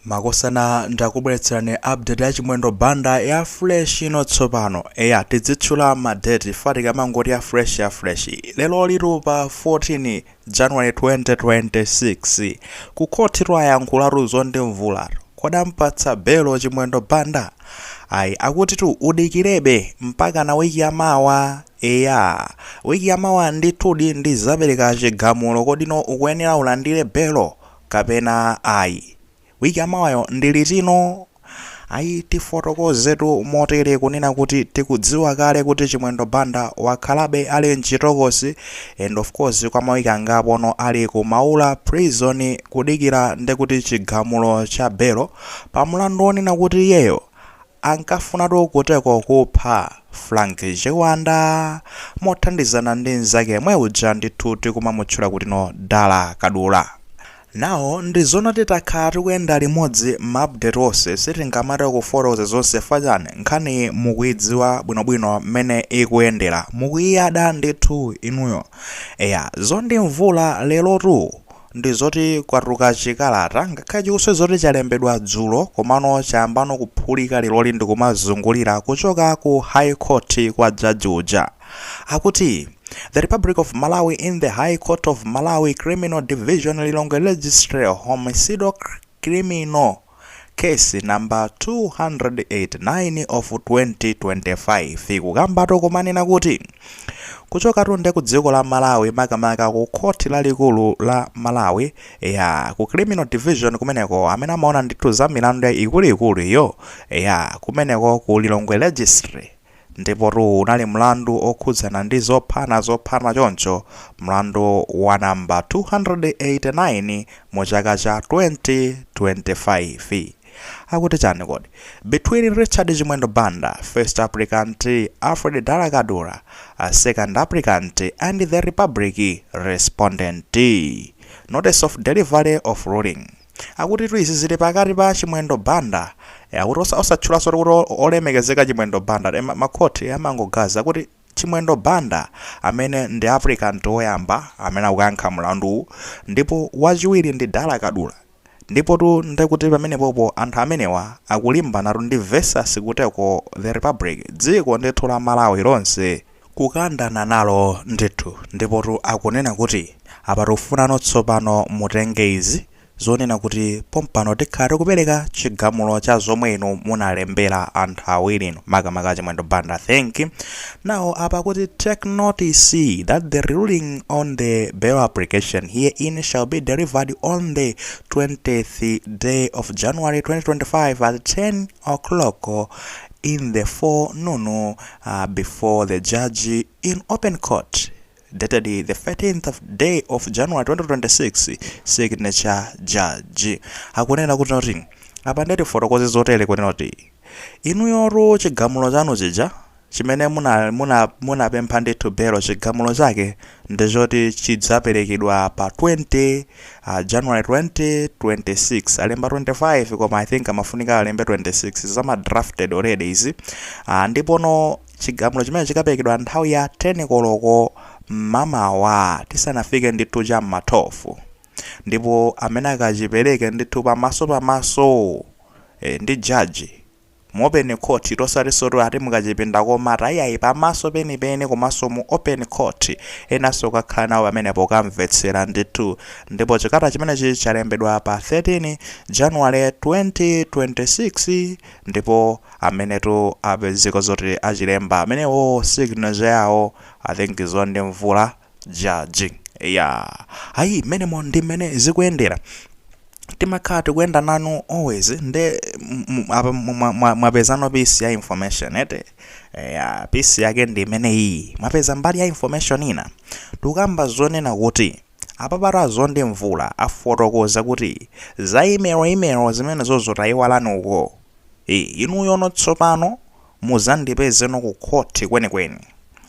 Makosana ndakubweretserani update ya Chimwendo Banda ya fresh ino tsopano. Eya tidzitchula ma date fa tikamangoti ya fresh ya fresh. Leroli tu pa 14 January 2026. Ku court tu ayankhulatu zondimvula. Kodi ampatsa belo Chimwendo Banda? Ayi akuti tu udikirebe mpakana wiki ya mawa. Eya wiki ya mawa ndithudi ndizapereka chigamulo kodi no ukuyenera ulandire belo kapena ayi. Week yamawayo ndi litino? Ayi tifotokozetu motere kunena kuti tikudziwa kale kuti Chimwendo Banda wakhalabe ali mchitokosi and of course kwa ma week angapono ali ku Maula prison kudikira ndekuti chigamulo cha belo pa mlandu wonena kuti iyeyo ankafunatu kuteko kupha Frank Chiwanda mothandizana ndi nzake yemwe uja ndithu tikumamutchula kutino Dala Kadula. Now ndizona ti takhala tikuyenda limodzi ma update onse sitingamati kufotokoza zonse chifukwa chani nkhaniyi mukuidziwa bwinobwino mmene ikuyendera, mukuyiyada ndithu inuyo. Eya zondimvula lerotu ndi zoti kwatuluka chikalata ngakhale chikusonyeza kuti chalembedwa dzulo komano chayambano kuphulika leroli ndikumazungulira kuchoka ku high court kwa jaji uja akuti The Republic of Malawi in the High Court of Malawi Criminal Division Lilongwe Registry Homicidal Criminal Case number 289 of 2025 ikukambatu kumanena kuti kuchokatu nde ku dziko la Malawi makamaka ku khoti lalikulu la Malawi ya ku criminal division kumeneko amene amaona ndithu za milandu ikuluikulu iyo ya kumeneko ku Lilongwe registry Ndipotu uwu unali mlandu wokhudzana ndi zophana zophana choncho mlandu wa number 289 mu chaka cha 2025 akuti chani kodi between Richard Chimwendo Banda first applicant Alfred Dala Kadula second applicant and the Republic respondent. Notice of delivery of ruling. Akutitu izi zili pakati pa Chimwendo Banda eh, akuti osa- osatchulaso kuti o- olemekezeka Chimwendo Banda eh, ma, ma court eh, amangogaza kuti Chimwendo Banda amene ndi applicant woyamba amene akukayankha mlanduwu ndipo wachiwiri ndi Dala Kadula ndipotu ndekuti pamenepopo anthu amenewa akulimbanatu ndi versus kuteko the republic dziko ndithu la Malawi lonse kukandana nalo ndithu ndipotu akunena kuti apa tikufuna tsopano mutenge izi zonena kuti pompano tikhala tikupereka chigamulo cha zomwe inu munalembera anthu awirinu makamaka achimwendo banda thank you now apa kuti take notice that the ruling on the bail application herein shall be delivered on the 20th day of january 2025 at 10 o'clock in the forenoon uh, before the judge in open court dated the 13th of day of January 2026 signature judge akunena kuti apa ndatifotokoze zotere kunena kuti inuyotu chigamulo chanu chija chimene muna muna munapempha ndithu belo chigamulo chake ndi choti chidzaperekedwa pa 20 uh, january 2026 alemba 25 koma i think amafunika alembe 26 zama drafted already izi uh, ndipono chigamulo chimenechi chikaperekedwa nthawi ya 10 koloko mmamawa tisanafike ndithu cha mma 12 ndipo amene akachipereke ndithu pamaso pamaso eh, ndi jaji mu open court osatinso kuti ati mukachipinda komata ayayi pamaso penipeni komanso mu open court enanso kukakhala nawo pamenepo kukamvetsera ndithu ndipo chikata chimenechi chalembedwa pa 13 January 2026 ndipo amenetu apezeka zoti achilemba amenewo signature yawo I think Zondi Mvula Judge. Yeah. Ayi mmenemo ndi mmene zikuyendera. timakhala tikuyenda nanu always nde m- m- apa mwa- mwa- mwapezano piece ya information eti ya piece yake ndi imene iyi mwapeza mbali ya information ina tikukamba zonena kuti apapatu a Zondi Mvula afotokoza kuti za imelo imelo zimene zo zotayi walani uko Eh, inuyono tsopano Muzandipezeno ku court kwenikweni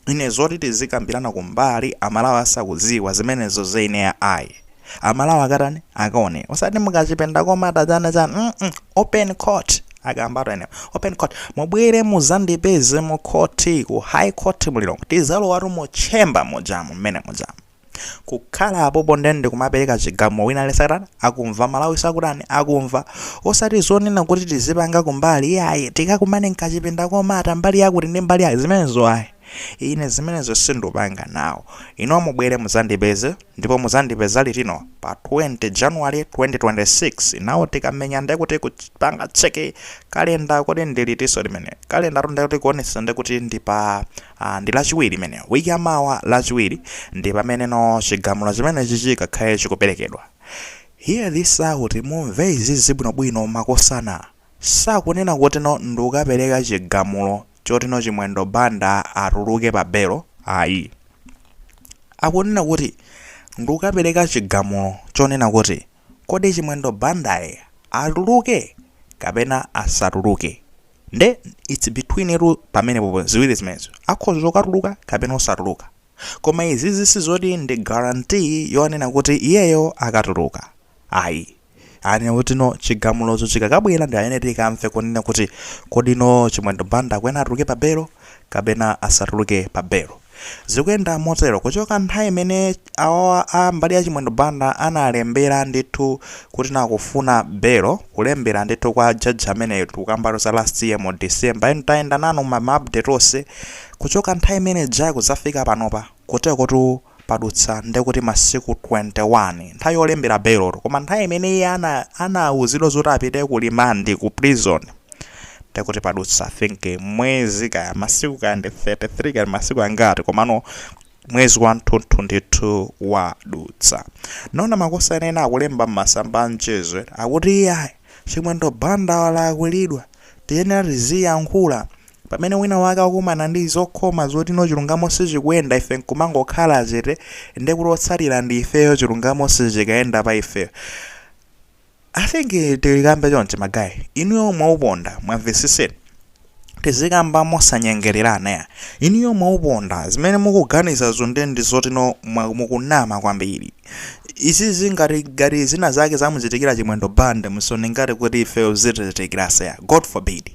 ine zoti tizikambirana kumbali amalawi asakuziwa zimenezo ineyo ayi amalawi akatani akaone osati mukachipinda komata chani chani mm open court akambatu amenewo open court mubwere muzandipeze mu court ku high court mu Lilongwe tizalowatu mu chamber mujamu mmene mujamu kukhala pompo nde ndikumapereka chigamulo wina aliyense akutani akumva amalawinso akutani akumva osati zonena kuti tizipanga kumbali iyayi tikakumane mkachipinda komata mbali yakuti ndi mbali yayi zimenezo ayi ine zimenezo sindupanga nawo inu mubwere muzandipeze ndipo muzandipeza litino pa 20 january 2026 now tikamenya nde kuti kupanga cheke kalenda kuti ndilitiso limene kalenda nde kuti kuonesa nde kuti ndi pa Aaa ndi lachiwiri imeneyo week ya mawa lachiwiri ndi pameneno chigamulo chimenechi chikakhale chikuperekedwa hear this out mumve izizi bwinobwino makosana sakunena kutino ndikukapereka chigamulo chotino chimwendo banda atuluke pa belo ayi akunena kuti ndikukapereka chigamulo chonena kuti kodi chimwendo bandae atuluke kapena asatuluke nde its between tu pamenepopo ziwiri zimenezo akhoza kukatuluka kapena osatuluka koma izizi sizoti ndi guarantee yonena kuti iyeyo akatuluka ayi anena kuti no chigamulozo chikakabwera ndi pamene tikamve kunena kuti kodi no chimwendo banda kwena atuluke pa belo kapena asatuluke pa belo Zikuyenda motero kuchoka nthawi imene awawa a mbali ya Chimwendo Banda analembera ndithu kuti no akufuna belo, kulembera ndithu kwa judge ameneyo tikukambatu za last year mu December and tayenda nanu ma ma update onse kuchoka nthawi imene ijayo kudzafika panopa kutekotu padutsa ndekuti masiku 21 nthawi yolembera belotu koma nthawi imene iye ana anauzidwa zoti apite ku limandi ku prison ndekuti padutsa i think mwezi kaya masiku kaya ndi 33 kaya masiku angati komano mwezi wathunthu ndithu wadutsa naona makosana ena akulemba m'masamba a mchezo akuti iyayi chimwendo banda walakwilidwa tiyenera tiziyankhula pamene wina wake akumana ndi zokhoma zoti no chilungamo sichikuyenda ife nkumangokhala chete ndekuti otsatira ndi ifeyo chilungamo sichikayenda pa ifeyo i think tilikambe chonchi magayi inuyo mwauponda mwamvesese tizikamba mosanyengererana ya inuyo mwauponda zimene mukuganizazo nde ndi zoti no mwa- mukunama kwambiri izizi ngati ngati zina zake zamuchitikira chimwendo banda musaone ngati kuti ifeyo zitichitikiranso ayi god forbid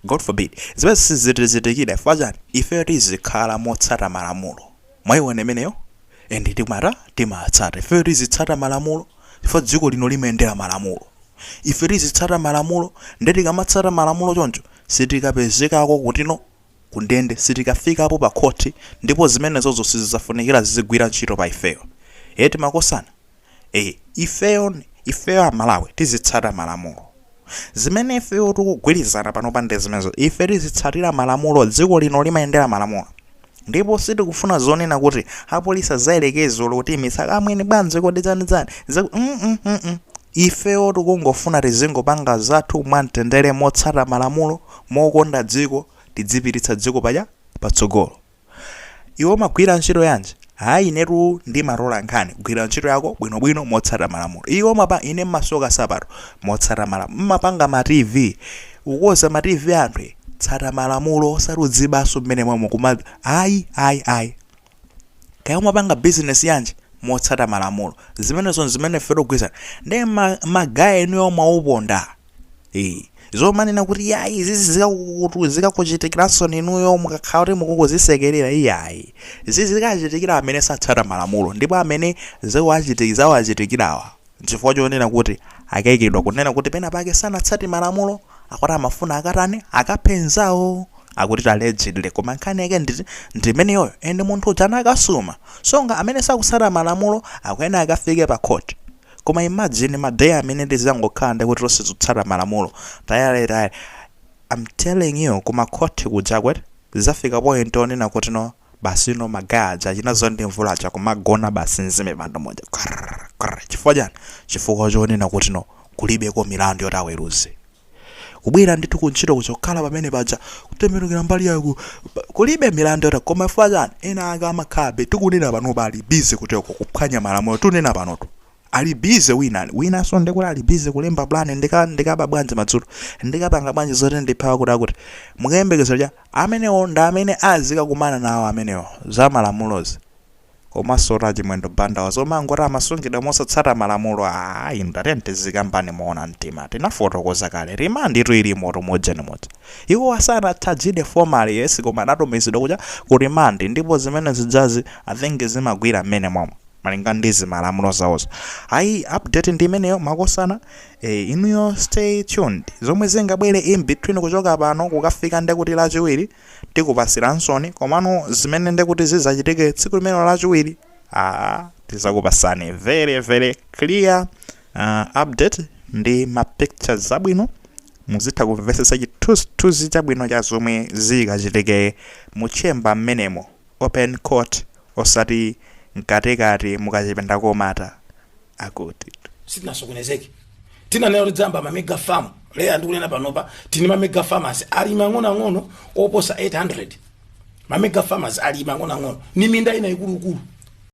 god forbid zimene sizitichitikira chifukwa chani ifeyo tizikhala motsata malamulo Mwaiona imeneyo? And timata timatsata. Ifeyo tizitsata malamulo chifukwa dziko lino limayendera malamulo. Ife tizitsata malamulo nde tikamatsata malamulo choncho sitikapezekako kutino kundende sitikafikapo pakhoti ndipo zimenezozo sizizafunikira zizigwira ntchito pa ifeyo. Eti makosana? Eh, ifeyo ifeyo amalawi tizitsata malamulo zimene ifeyo tikugwirizana panopa ndi zimenezo ife tizitsatira malamulo dziko lino limayendera malamulo ndipo sitikufuna zonena kuti apolisi azayerekeze olo kuti misaka amwene bwanji kodi dzanidzani ifeyo tikungofuna tizingopanga zathu mwamtendere motsata malamulo mokonda dziko tidzipititsa dziko paja patsogolo Iwe umagwira ntchito yanji? Hayi inetu ndimatola nkhani. Gwira ntchito yako bwinobwino motsata malamulo. Iwe umati ine mmasoka nsapato motsata malamulo. Mmapanga ma TV. Ukukonza ma TV a anthu. e. Tsata malamulo osati uzibanso mmene momwe kuma ayi ayi ayi. Kaya umapanga business yanji motsata malamulo. Zimenezo nzimene ife tikugwirizana. Ndiye ma, ma guy inuyo mwauponda. Eh, zomanena kuti yayi izi zikakukutu zikakuchitikiranso ninuyo mukakhala kuti mukungozisekerera iyayi izi zikachitikira amene satsata malamulo ndipo amene zikuwachiti- zawachitikirawa chifukwa chonena kuti akayikiridwa kunena kuti pena pake sanatsate malamulo akuti amafuna akatani akaphe nzawo akuti allegedly koma nkhani yake ndi ndi imeneyoyo and munthu uja anakasuma so nga amene sakutsata malamulo akuyenera akafike pa court Koma imagine ma day amene tizangokhala ndekuti tonse tikutsata malamulo tayale tayale am telling you ku ma court kuja akuti zizafika point onena kuti no basi you know ma guy aja achina Zondi Mvula aja kumagona basi m'zimipando muja qrrr qrrr chifukwa chani chifukwa chonena kuti no kulibeko milandu yoti aweruze. kubwera ndithu ku ntchito kuzokhala pamene paja kutembenukira mbali yako kulibe milandu yoti koma chifukwa chani ena ake amakhabe tikunena panopa ali busy kuteko kuphwanya malamulo tunena panotu ali busy wina winanso ndekuti ali busy kulemba plan ndika ndikaba bwanji madzulo ndikapanga bwanji zoti ndithawe kuti akuti mukayembekezera cha amenewo ndi amene azikakumana nawo amenewo za malamulozi Komansotu a Chimwendo Bandawa zomangoti amasungidwa mosatsata malamulo aah inu tiyeni tizikambani moona mtima tinafotokoza kale remand tu ilimotu mu ujeni muja iwowa sanatchajidwe formally yes koma anatumizidwa kuja ku remand ndipo zimene zijazi I think zimagwira mmene momo malinga ndi zimalamulo zawozo ayi update ndi imeneyo makosana eh inuyo stay tuned zomwe zingabwere in between kuchoka pano kukafika ndekuti lachiwiri Tikupatsiransoni, komano zimene ndekuti zidzachitike tsiku limenelo lachiwiri, aa, tidzakupatsani very very clear uh, update ndi ma pictures zabwino muzitha kumvetsetsa chithunzithunzi chabwino cha zomwe zikachitike mu chamber mmenemo open court osati mkatikati mukachipinda komata akuti sitinasokonezeke tinayamba mamega farm leya ndikunena panopa tini mamega farmers ali mang'onoang'ono oposa 800 mamega farmers ali mang'onoang'ono ni minda ina ikuluikulu